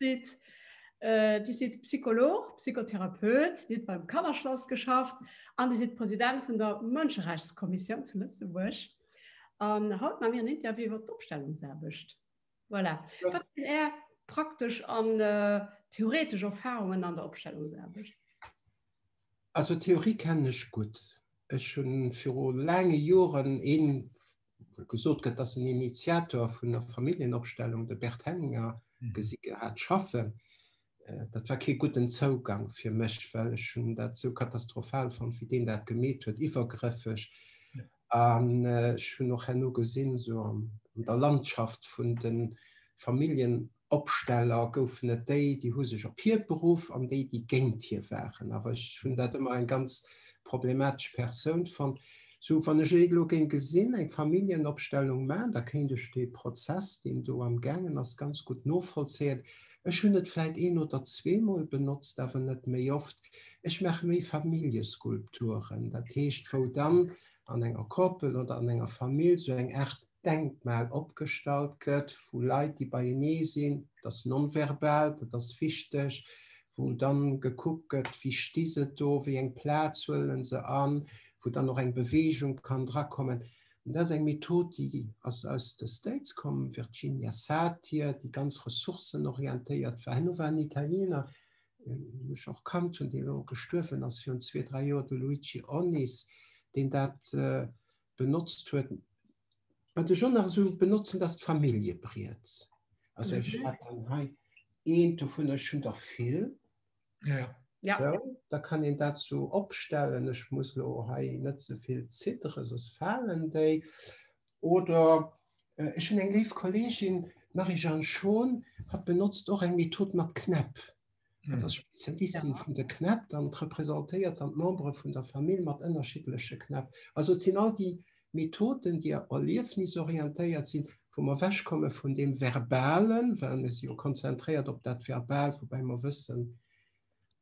Sidd, Dir sidd Psycholog, Psychotherapeut, Dir hutt beim Kannerschlass geschafft an Dir sidd President vun der Mënscherechtskommissioun zu Lëtzebuerg. An haut ma mir en Interview iwwer d'Opstellungsaarbecht. Voilà. Wat sinn Är praktesch an theoretesch Erfarungen an der Opstellungsaarbecht? Also d'Theorie kennen ech gutt. Ech hunn viru laange Joren ee gesot gëtt, dass en Initiator vun der Familljenopstellung, de Bert Hellinger, gesi gehat schaffen. Dat war kee gudden Zougang fir mech, well ech hunn dat esou katastrophal fonnt, wéi deen dat gemeet huet, iwwergrëffeg. An ech hunn och herno gesinn, esou an der Landschaft vun de Familljen, Opsteller goufen et déi, déi hu sech op hie beruff, an déi, déi géint hie waren. Awer ech hunn dat ëmmer eng ganz problematesch Persoun fonnt. Sou, wann ech elo géing gesinn, eng Familljenopstellung maachen, da kéint ech dee Prozess, deen do am gaangen ass, ganz gutt novollzéien. Ech hunn et vläit een oder zweemol benotzt, awer net méi oft. Ech maache méi Familljeskulpturen, dat heescht, wou dann an enger Koppel oder an enger Famill sou eng Aart Denkmal opgestallt gëtt vu Leit, déi beienee sinn, dat ass nonverbal, dat ass wichteg, wou dann gekuckt gëtt, wie sti se do, wéi eng Plaz huele se an, wou dann och eng Beweegung kann drakommen. Dat ass eng Method, déi ass aus de States komm, Virginia Satir, déi ganz ressourcenorientéiert war. Herno war en Italiener, deen ech och kannt hunn, deen elo gestuerwen ass virun zwee, dräi Joer, de Luigi Onnis, deen dat benotzt huet, wat ech och nach esou benotzen, ass d'Familljebriet. Also ech mhm. hat dann hei een dovun ech hun der vill. Ja. Ja. So, da kann en dat so opstellen, ech muss lo hei net soviel zittere, sos falen déi. Oder äh, ech hun eng leef Kollegin, Marie-Jeanne Schon, hat benotzt och eng Method mat Knäpp. Dat ass Spezialistin ja. vun de Knäpp, dann representéiert dann d'Membere vun der Famill mat ënnerschiddleche Knäpp. Also et sinn all déi Methoden, déi erliefnisorientéiert sinn, wou mer wechkomme vun dem Verbalen, well mir si jo konzentréiert op dat Verbal, woubäi mer wëssen,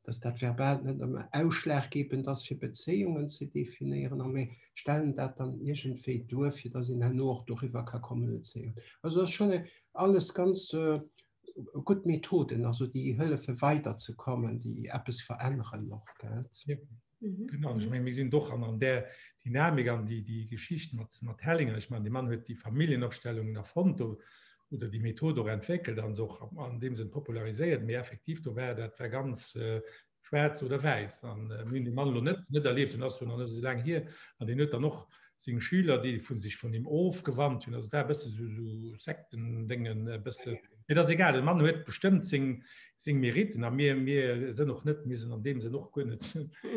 dass dat Verbal net ëmmer ausschlaggebend ass, fir Bezéiungen ze definéieren, a mir stellen dat dann iergendwéi duer, fir dass een herno och doriwwer ka kommunizéieren. Also dat ass schonn alles ganz äh, gutt Methoden, also déi hëllefe weider ze kommen, déi eppes veränneren och. Mhm. Genau, ich mein, wir sind doch an, an der Dynamik an die, die Geschichte mit, mit Hellinger. Ich meine, der Mann hat die Familienabstellungen erfund oder die Methode auch entwickelt und auch an dem Sinn popularisiert. Mir effektiv, da war das war ganz äh, schwarz oder weiß an äh, Mann lo net net erlebt den as noch so lang hier an den dann noch sing Schüler die von sich von dem ofgewandt hun war bist so, so sekten dingen äh, bist mir das egal den Mann huet bestimmt sing sing Meriten an mir mir sind noch net mir sind an dem sie noch gut net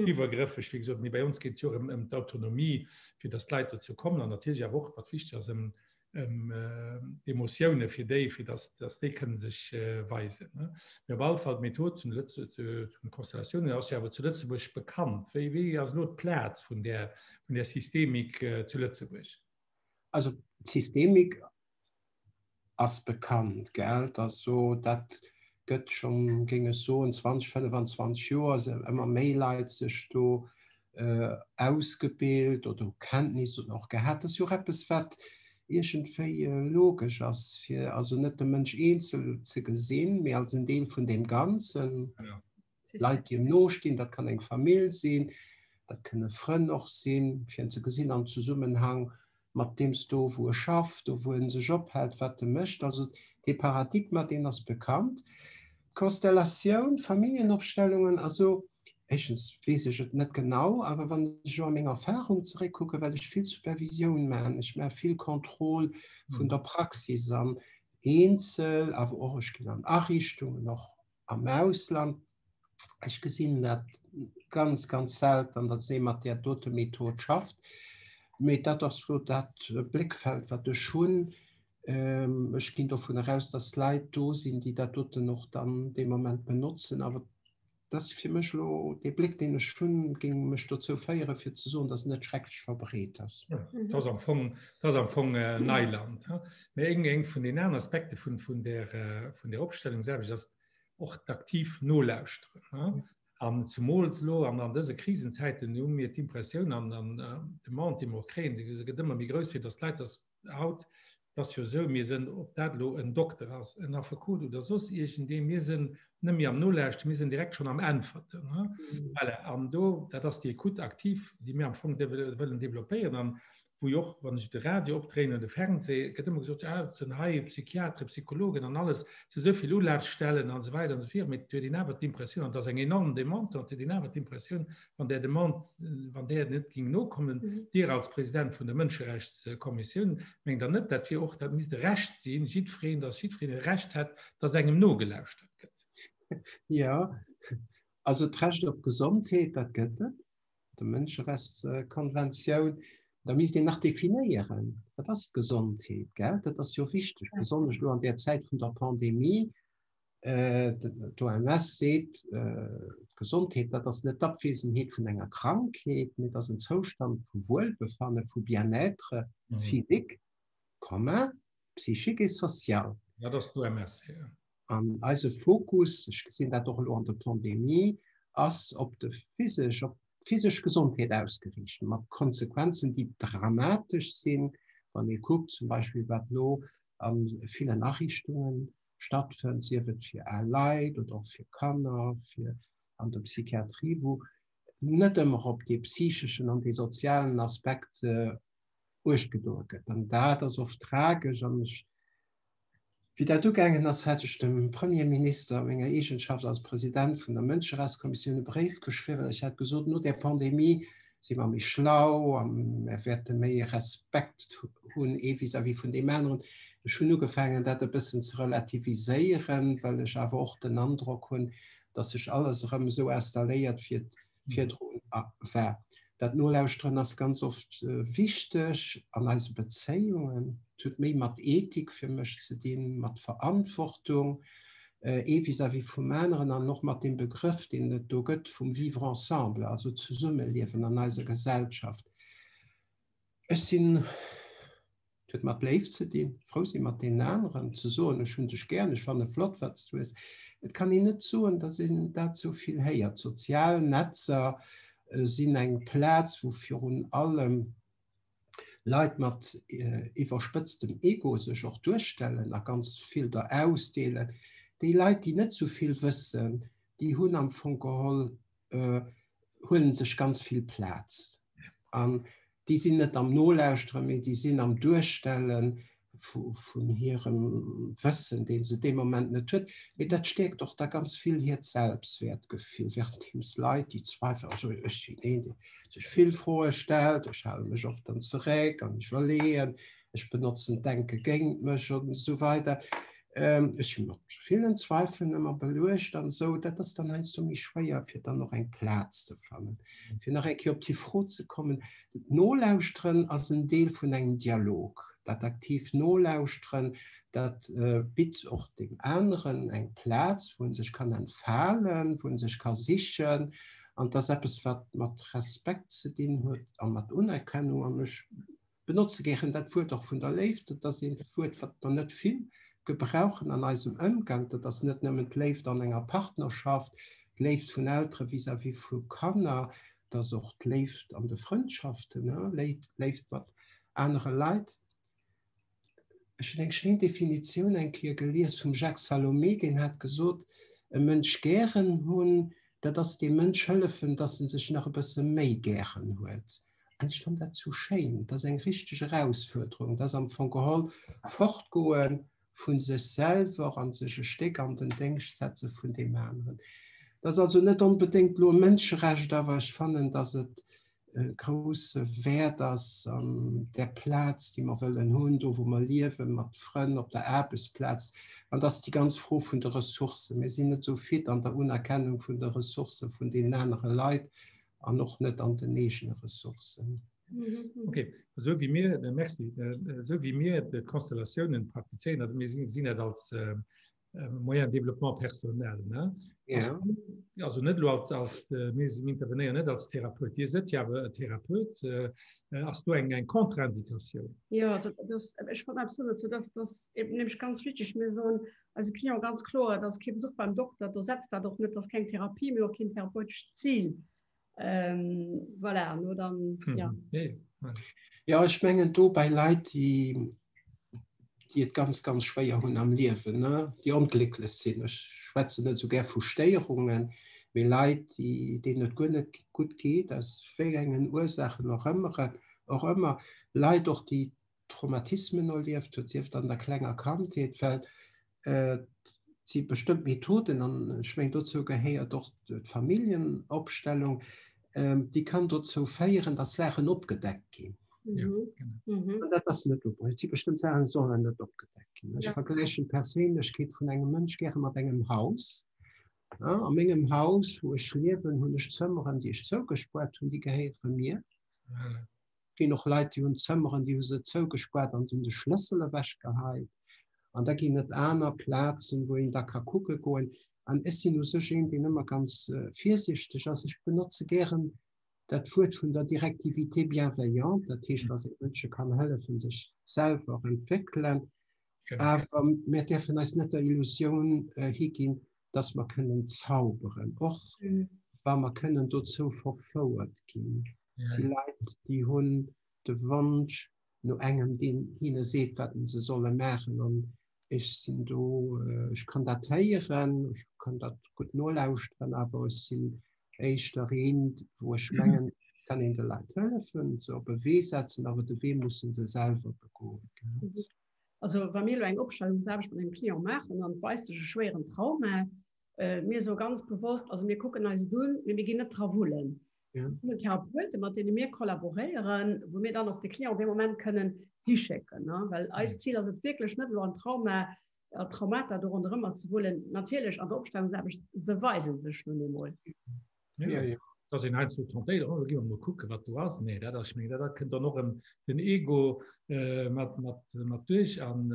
übergriffig wie gesagt, bei uns geht ja um, um die Autonomie für das Leiter zu kommen an natürlich auch was wichtig ist, um, ëm äh, Emotioune fir déi, fir dass, dass déi kënne sech äh, weisen. Ne? Mir op all Fall d'Method zum Lëtz äh, zum Konstellatiounen ass ja awer zu Lëtzebuerg bekannt. Wéi, wéi ass lo d'Plaz vun der, vun der Systemik äh, zu Lëtzebuerg? Also d'Systemik ass bekannt gell, dat so dat gëtt schon géing ech soen 20 25 Joer se ëmmer méi Leit sech do ausgebilt oder hu Kenntnis oder och gehat. Dat ass jo och eppes, wat iergendwéi logesch ass, fir also net de Mënsch eenzel ze gesinn, mee als en Deel vun deem Ganzen. Leit, déi em nostinn, dat kann eng Famill sinn, dat kënne Frënn och sinn, fir en ze gesinn am Zesummenhang mat deems do, wou e schafft, do, wou e sech ophält, wat e mécht. Also dee Paradigma, deen ass bekannt. D'Konstellatioun, d'Familljenopstellungen, also éischtens weess ech et net genau, awer wann ech elo a meng Erfarung zeréckkucken, well ech vill Supervisioun maachen, ech maache vill Contrôle vun der Praxis an Eenzel, awer och ech ginn an Ariichtungen, och am Ausland. Ech gesinn dat ganz ganz selten, datt ee mat där dote Method schafft. Mee dat ass elo dat Bléckfeld, wat ech hunn. Ech ginn dovunner aus, datt Leit do sinn, déi dat doten och dann dee Moment benotzen. Awer et ass fir mech elo, dee Bléck, deen ech hunn, géing mech dozou féieren, fir ze soen, datt en net schrecklech verbreet ass. Dat ass am Fong, dat ass am Fong Neiland. Mee eng, eng vun den aner Aspekte vun, vun der, vun der Opstellungsaarbecht ass och d'aktiv Nolauschteren. An zemools elo an, an dëse Krisenzäiten hu mir d'Impressioun an, an d'Demande, déi mer och kréien, déi gëtt ëmmer méi grouss, fir datt d'Leit datt haut, et ass jo esou, mir sinn, ob dat elo en Dokter ass, en Affekot oder soss iergendee, mir sinn net méi am Nolauschteren, mir sinn direkt schonn am Äntwerten. Voilà, an do, dat ass déi Ecoute active, déi mir am Fong wëllen développéieren. An wou och wann ech de Radio opdréinen oder de Fernseh, gëtt ëmmer gesot, ja, et sinn hei Psychiatere, Psychologen an alles, et si sou vill Ulafstellen an esou weider an esou viru, mee et huet een awer d'Impressioun, an et ass eng enorm Demande do, et huet een awer d'Impressioun, wann där Demande, wann där net géing nokommen, Dir als President vun der Mënscherechtskommissioun, mengt Der net, dat wier och, dat misst e Recht sinn, jiddwereen, dass jiddwereen e Recht hätt, dass engem nogelauschtert gëtt? Jo, also d'Recht op Gesondheet, dat gëtt et. der Mënscherechtskonventioun, da misst een nach definéieren, wat ass d'Gesondheet, gell? Dat ass jo wichteg, besonnesch elo an där Zäit vun der Pandemie. Äh, D'OMS seet, äh, d'Gesondheet, dat ass net d'Abwesenheet vun enger Krankheet, mee et ass en Zoustand vu Wuelbefanne, vu Bien-être mhm. physique, commun, psychique et social. Dat ass d'OMS, ja. An eise Fokus, ech gesinn dat och elo an der Pandemie, ass op de physesch, op d'physesch Gesondheet ausgeriicht, mat Konsequenzen, déi dramatesch sinn, wann ee kuckt zum Beispill, wat elo a villen Ariichtunge stattfënnt, sief et fir al Leit oder och fir Kanner, fir an der Psychiatrie, wou net ëmmer op dee psycheschen an dee sozialen Aspekt Uecht gedoe gëtt. An dat ass oft tragesch. An ech Wéi dat ugaangen ass, hat ech dem Premierminister a menger Eegenschaft als President vun der Mënscherechtskommissioun e Bréif geschriwwen. Ech hat gesot, no där Pandemie si mer méi schlau a mer wäerte méi Respekt hunn, ee vis-à-vis vun deem aneren. Ech hunn ugefaangen, dat e bëssen ze relativiséieren, well ech awer och den Androck hunn, datt sech alles erëm esou installéiert, fir virdrun war. Dat Nolauschteren ass ganz oft wichteg an eise Bezéiungen. Et huet méi mat Ethik fir mech ze dinn, mat Verantwortung, ee vis-à-vis vum aneren an och mat deem Begrëff, deen et do gëtt vum Vivre ensemble, also zesummeliewen an eiser Gesellschaft. Ech sinn huet mat Léift ze dinn, frou si mat deenen aneren, ze soen, ech hunn dech gär, ech fanne flott, wat s du hues. Et kann een net soen, datt een dat sou vill héiert. D'sozial Netzer sinn eng Plaz, wou virun allem Leit mat iwwerspëtztem Ego sech och duerstellen a ganz vill der ausdeelen. Déi Leit, déi net sou vill wëssen, déi hunn am Fong geholl äh, huelen sech ganz vill Plaz. An déi sinn net am Nolauschtere, méi déi sinn am Duerstellen vun hirem Wëssen, deen se dee Moment net huet. Mee dat stärkt och da ganz vill hiert Selbstwertgefill, während deems Leit, déi zweifel also ech sinn een, dee sech vill Froe stellt, ech hale mech oft dann zeréck an ech iwwerleeën, ech benotzen d'Denke géint mech an esou weider. Ech hunn och villen Zweifeln ëmmer beluecht an esou. Dat ass dann heiansdo méi schwéier, fir dann och eng Plaz ze fannen. Fir nach eng Kéier op déi Fro ze kommen, D'Nolauschteren ass en Deel vun engem Dialog. Dat aktiivt Nolauschteren, dat bitt och deem aneren eng Plaz, wou e sech kann entfalen, wou e sech ka sichen. An et ass eppes, wat mat Respekt ze dinn huet a mat Unerkennung. An ech Benotze gären dat Wuert och vun der Léift. Dat ass een Wuert, wat mer net vill gebrauchen an eisem Ëmgank. Dat ass net nëmmen d'Léift an enger Partnerschaft, d'Léift vun Eltere vis-à-vis vu Kanner, et ass och d'Léift an de Frëndschaften, Léift mat anere Leit. Ech hunn eng schéin Definitioun eng Kéier gelies vum Jacques Salomé, deen hat gesot, e Mënsch gären hunn, dat ass deem Mënsch hëllefen, dass en sech nach e bësse méi gären huet. Ech fënn dat sou schéin, dat ass eng richteg Erausfuerderung, dat ass am Fong geholl d'Fortgoe vu sech selwer a sech e Stéck an den Déngscht setze vun deem aneren. Dat ass also net onbedéngt elo e Mënscherecht, awer ech fannen, datt et e grousse Wäert ass an där Plaz, déi mer wëllen hunn, do wou mer liewen, mat Frënn, op der Aarbechtsplaz. An da ass déi ganz Fro vun de Ressourcen. Mir sinn net sou fit an der Unerkennung vun de Ressourcë vun deenen anere Leit an och net an den eegene Ressourcen. Okay. Esou wéi mir äh, Merci. Äh, esou wéi mir d'Konstellatiounen praktizéieren, also mir gesinn dat als äh, äh Moyen de Développement personnel. Ne? Ja. Also, also net lo als, als äh, mir intervenéieren net als Therapeut. Dir sët ja awer e Therapeut äh, äh ass du eng eng Kontraindikatioun. Ja, also, das, ich wollte absolut, so, dass das eben nämlich ganz wichtig mir so eise Client ganz kloer, et ass kee Besuch beim Dokter, do setzt dat och net, et ass keng Therapie, mee och keen therapeutescht Zil. Voilà, an elo dann, jo. Jo, ech mengen do bei Leit, déi, déi et ganz, ganz schwéier hunn am Liewen, ne, déi onglécklech sinn, ech schwätzen net esou gär vu Stéierungen, mee Leit, déi, deenen et guer net gutt geet, aus wéi engen Ursaachen och ëmmer, Leit och, déi Traumatismen erlieft huet, sieft an der klenger Kandheet, well si bestëmmt Methoden an ech meng dozou gehéiert och d'Familljenopstellung, déi kann dozou féieren, datt Saachen opgedeckt ginn. An dat ass net ok. Et si bestëmmt Saachen, déi sollen net opgedeckt ginn. Ech vergläichen d'Perséinlechkeet vun engem Mënsch gäre mat engem Haus. A mengem Haus, wou ech liewen, hunn ech Zëmmeren, déi ech zougespuert hunn, déi gehéiere mir. ginn och Leit, déi hunn Zëmmeren, déi hu se zougespaart an hunn de Schlëssel ewechgeheit. An da ginn et aner Plazen, wou een da ka kucke goen. An ech sinn u sech een, deen ëmmer ganz virsichteg ass. Ech benotze gären dat Wuert vun der Directivité bienveillante, dat heescht, dass ee Mënsche kann hëllefen, sech selwer entwéckelen. Awer mir däerfen eis net der Illusioun higinn, dass mer kënnen zauberen, och wa mer kënnen dozou verfouert ginn. Et si Leit, déi hunn de Wonsch no engem, deen hinne seet, wat se solle maachen. An ech sinn do, ech kann dat héieren, ech kann dat gutt nolauschteren, awer ech sinn éischter een, wou ech mengen, et kann een de Leit hëllefen, se op e Wee setzen, awer de Wee musse se selwer begoen. Also wa mir elo eng Opstellungsaarbecht mat engem Client maachen an et weist sech e schwéieren Trauma, mir soe ganz bewosst, also mir kucken eis et un, mee mir ginn net dra wullen. Ja. Mir Therapeutë, mat deene mir kollaboréieren, wou mir dann och de Client op dee Moment kënnen hischécken. Well eist Zil ass et wierklech net elo an Trauma a Traumata do ronderëmmer ze wullen. Natierlech an der Opstellungsaarbecht, se weise sech nun eemol. Ja, ja. Da sinn eins vu Tentéiert, oh da gi mer mol kucke wat do ass. Nee, dat ass, ech mengen dat kënnt dann och erëm den Ego mat, mat, mat duerch an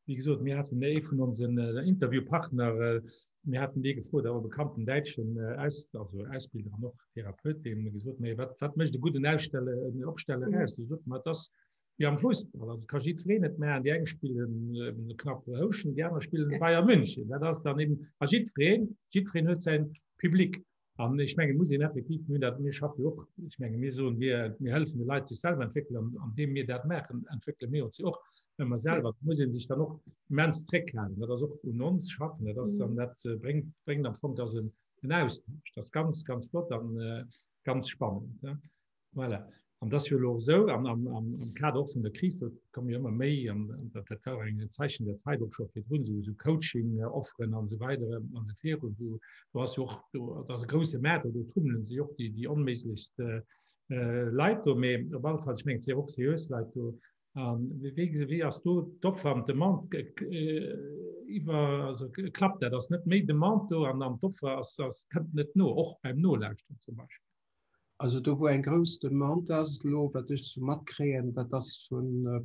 Wéi gesot, mir haten ee vun onsen Interviewpartner, mir haten dee gefrot, awer bekannten däitschen Aus, also Ausbilder an och Therapeut, dee mir gesot, méi wat, wat mécht e gudden Ausstelle, en Opsteller aus? Du sot mat ass wie am Fußball, also ka jiddwereen net maachen, déi eng spillen äh, knapp Houschen, déi aner spillen Bayern München. Dat ass dann eben a jiddwereen, jiddwereen huet säin Public. An ech menge muss een effektiv mir dat mir schaffe och ech menge mir soen wir mir hëllefen de Leit sech selwer entwéckelen an an deem mir dat maachen entwéckele mir ons jo och ëmmer selwer. Da muss een sech dann och immens zréckhalen. Dat ass och un ons schaffen. Dat ass dann dat bréngt bréngt am Fong dass en en Austausch. Dat ass ganz ganz flott an ganz spannend. Voilà. An dat ass jo elo esou am, am, am, am Kader och vun der Kris, do komme jo ëmmer méi an dat, dat war eng Zeichen der Zäit och scho virdrun, esou esou Coaching-Offeren an esou weider an esou viru. Do, do ass jo och do, dat ass e grouse Maart, do tummele sech och déi, déi onméiglechst äh, Leit do. Mee op alle Fall, ech mengen, et si och seriös Leit do. An wéi, wéi, wéi ass do d'Offer an d'Demande äh, iwwer, also klappt dat? Ass net méi Demande do an an d'Offer ass, ass, kënnt net no, och beim Nolauschteren zum Beispill? Also do wou eng grouss Demande ass elo, wat ech sou matkréien, dat ass vu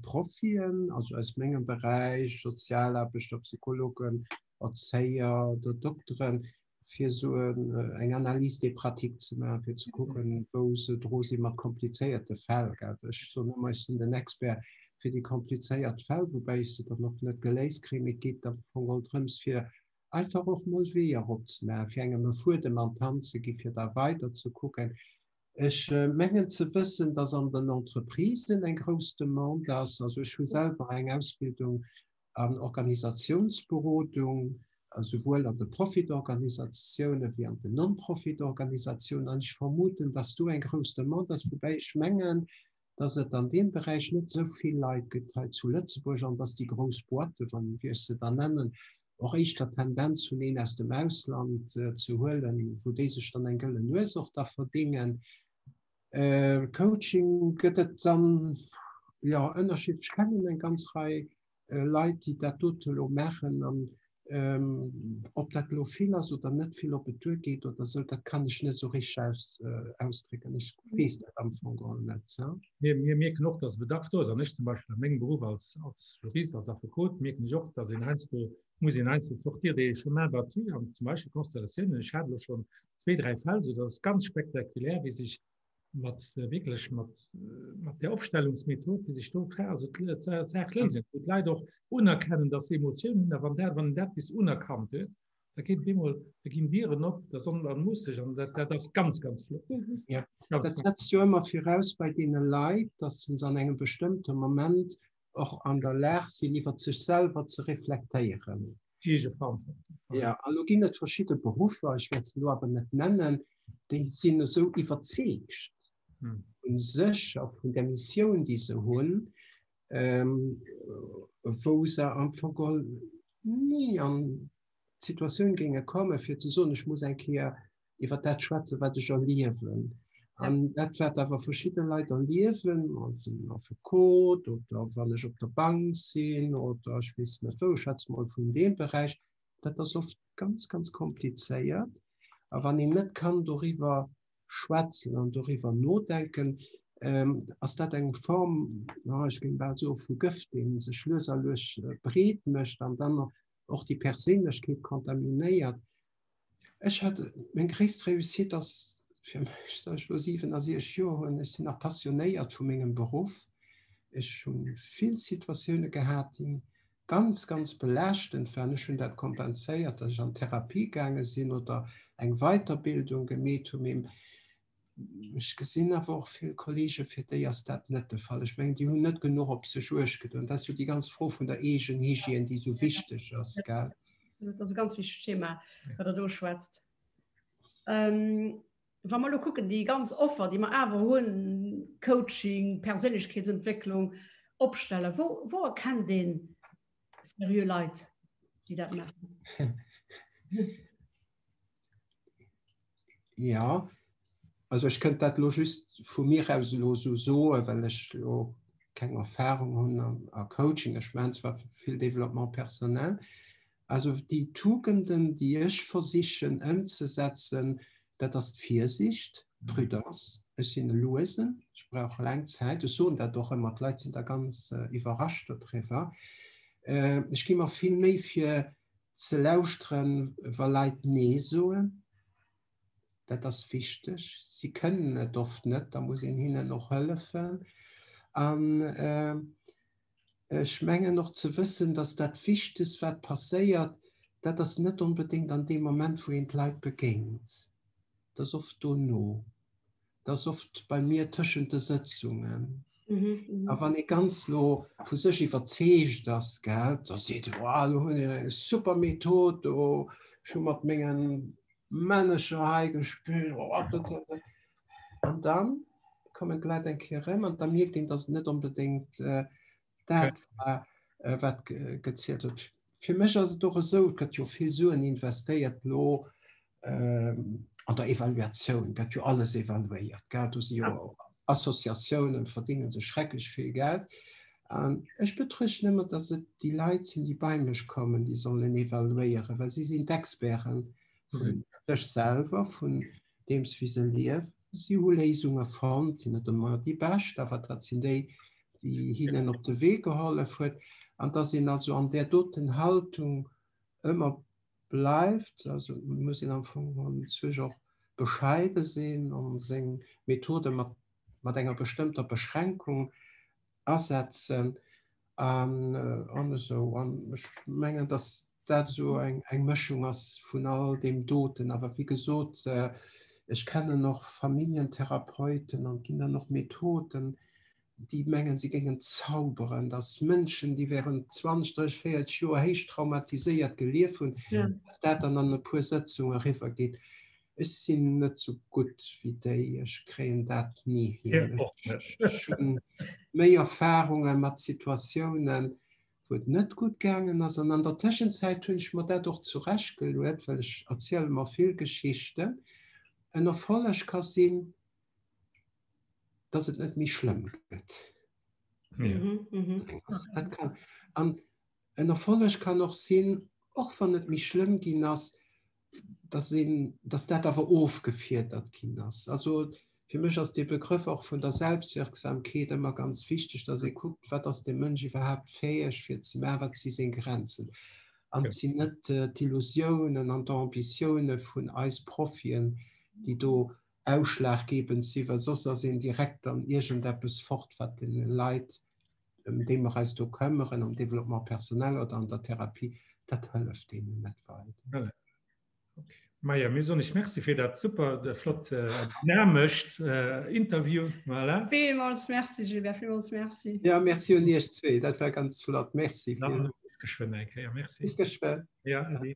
Profien, also aus mengem Beräich, Sozialaarbechter, Psychologen, Erzéier oder Dokteren, fir esou eng Analyse des pratiques ze maachen, fir ze kucken, wou se dru si mat komplizéierte Fäll. Ech soen ëmmer, ech sinn den Expert fir déi komplizéiert Fäll, woubäi ech se dann och net geléist kréien. Et geet am Fong och drëms, fir einfach och mol Weeër eropzemaachen, fir engem e Fuedem an d'Hand ze ginn, fir da weider ze kucken. Ech mengen ze wëssen, dass an den Entreprisen eng grouss Demande ass. Also ech hu selwer eng Ausbildung an Organisationsberodung, souwuel an de Profitorganisatiounen wéi an den Non-Profit-Organisatiounen, an ech vermuten, dass do eng grouss Demande ass. Woubäi ech mengen, dass et an deem Beräich net esou vill Leit gëtt hei zu Lëtzebuerg an dass déi grouss Boîten, wa wéi ech se da nennen, och éischter d'Tendenz hunn, een aus dem Ausland ze huelen, wou déi sech dann eng gëllen Nues och da verdéngen. Coaching gëtt et dann, jo, ënnerschiddlech, kennen eng ganz Rei äh, Leit, déi dat dote lo machen an ähm, ob dat lo vill ass oder net vill op et duer geet oder so, dat kann ech net so rich aus, äh, ausdrécken. Ech wees dat am Fong all net. Ja? Mir, mir mierken och, dass Bedarf do ass an ech zum Beispiel an mengem Beruf als, als Jurist, als Affekot mierken ech och, dass en heinsdo muss en heinsdo sortir de chemin battu an zum Beispiel Konstellatiounen. Ech hat lo schon zwee, dräi Fäll, so dass ganz spektakulär, wie sich mat äh, wirklich mat äh, mat der Opstellungsmethod die sich dort her also erklären und leider auch unerkennen dass Emotionen da wann der wann der bis unerkannt wird da geht wie mal da gehen Dieren op da sondern muss ich an das ganz ganz flott mhm. ja. ja, das setzt du immer voraus bei denen Lei dass sind an einem bestimmten Moment och an der Lag sinn, iwwer sech selwer ze reflektéieren. Ja, a lo ginn et verschidde Beruffer, ech wäert se lo awer net nennen, déi sinn esou iwwerzeegt vun sech a vun der Missioun, déi se hunn, wou se am Fong ni an d'Situatioun géinge kommen, fir ze soen, ech muss eng Kéier iwwer dat schwätzen, wat ech erliewen. An dat wat awer verschidde Leit erliewen, Affekot oder wann ech op der Bank sinn oder ech weess net wou, ech schwätze mol vun deem Beräich, dat ass oft ganz, ganz komplizéiert. A wann een net kann doriwwer schwätzen an doriwwer nodenken, ass dat eng Form, ech géing bal soe vu Gëft, dee sech lues a lues breet mécht an dann och déi Perséinlechkeet kontaminéiert. Ech hat meng gréisst Réussite ass fir mech, datt ech elo 67 Joer hunn, ech sinn nach passionéiert vu mengem Beruff. Ech hu vill Situatioune gehat, déi ganz, ganz belaaschtend waren. Ech hunn dat kompenséiert, datt ech an d'Therapie gaange sinn oder eng Weiterbildung gemeet hunn. Ech gesinn awer och vill Kollegen, fir déi ass dat net de Fall. Ech mengen, déi hunn net genuch op sech uecht gedoen. Dat ass jo déi ganz Fro vun der Eegenhygiène, déi esou wichteg ass. Dat ass e ganz wichtegt Thema, wat Der do schwätzt. Wa mer elo kucken, déi ganz Offer, déi mer awer hunn, Coaching, Perséinlechkeetsentwécklung, Opstellen, wou erkennt ee seriö Leit, déi dat maachen? Ja, also ech kënnt dat lo just vu mir aus lo so soe well ech lo keng Erfahrung hunn am a Coaching. Ech man zwar vill Developpement personnel. Also déi Tugenden, déi ech versichen ëmzesetzen, dat ass d'Virsicht, d'Prudence. Ech sinn e Luesen, ech brauch laang Zäit. Ech soen dat och ëmmer, d'Leit sinn da ganz iwwerrascht dodriwwer. Ech gi mer vill Méi fir. Ze lauschteren, wa Leit Nee soen, dat ass wichteg. Si kënnen et oft net, da muss een hinnen och hëllefen. An ech mengen och ze wëssen, datt dat Wichtegst, wat passéiert, dat ass net onbedéngt an deem Moment, wou een d'Leit begéint, et ass oft dono. Dat ass oft bei mir tëschent de Sëtzungen. Mhm. A wann e ganz lo vu sech iwwerzeegt ass gell, da seet e wow, lo hunn eng super Method do, ech hu mat mengen Manager hei gespillt oh, an dann kommen d'Leit eng Kéier erëm an da mierkt een, datt et net onbedéngt äh, Dat war äh, wat gezielt huet. Fir mech ass et och esou, gëtt jo vill Suen investéiert lo ähm, an der Evaluatioun, gëtt jo alles evaluéiert. Geld du si jo ja. Assoziatiounen verdingen se schrecklech vill Geld. An ech betruechten ëmmer, dass et déi Leit sinn, déi bei mech kommen, déi sollen evaluéieren, well si sinn d'Experten vun mhm. sech selwer, vun deems wéi se lief. Si hu Léisunge fonnt, sinn net ëmmer déi bescht, awer dat sinn déi, déi hinnen op de Wee gehollef huet. An datt een also an där doten Haltung ëmmer bleift, also muss een am Fong geholl zwech och bescheide sinn a seng Methode mat mat enger bestëmmter Beschränkung asetzen an esou. An ech mengen, datt dat esou eng Mëschung ass vun all deem doten. Awer wéi gesot, ech kennen och Familljentherapeuten an et ginn dann och Methoden, déi mengen, si géingen zauberen, dass Mënschen, déi während 20, 30, 40 Joer héich traumatiséiert gelief hunn, dass dat dann an e puer Sëtzunge eriwwergeet. Ech sinn net esou gutt wéi déi, ech kréien dat ni hin. Ech hunn méi Erfarunge mat Situatiounen, wou et net gutt gaangen ass. An an der Tëschenzäit hunn ech mer dat och zurecht geluet, well ech erziele mer vill Geschichten, en Erfolleg ka sinn, dass et net méi schlëmm gëtt. Dat kann. An en Erfolleg kann och sinn, och wann et méi schlëmm ginn ass, dass, een, dass dat awer ofgefiedert ginn ass. Also fir mech ass de Begrëff och vun der Selbstwirksamkeet ëmmer ganz wichteg, dass ee kuckt, wat ass de Mënsch iwwerhaapt fäeg fir ze maachen, wat si seng Grenzen. An et sinn net d'Illusiounen an d'Ambitioune vun eis Profien, déi do ausschlaggebend sinn, well soss ass een direkt an iergendeppes fort, wat deene Leit ëm déi mer eis do këmmeren, am Développement personnel oder an der Therapie, dat hëlleft deenen net wei. Maja, mir soen lech Merci fir dat super flott dynamescht Interview. Voilà. Villmools Merci Gilbert, villmools Merci. Jo, Merci un Iech zwee, dat war ganz flott. Merci. Dann bis geschwënn eng Kéier. Merci. Bis geschwënn. Ja, ade.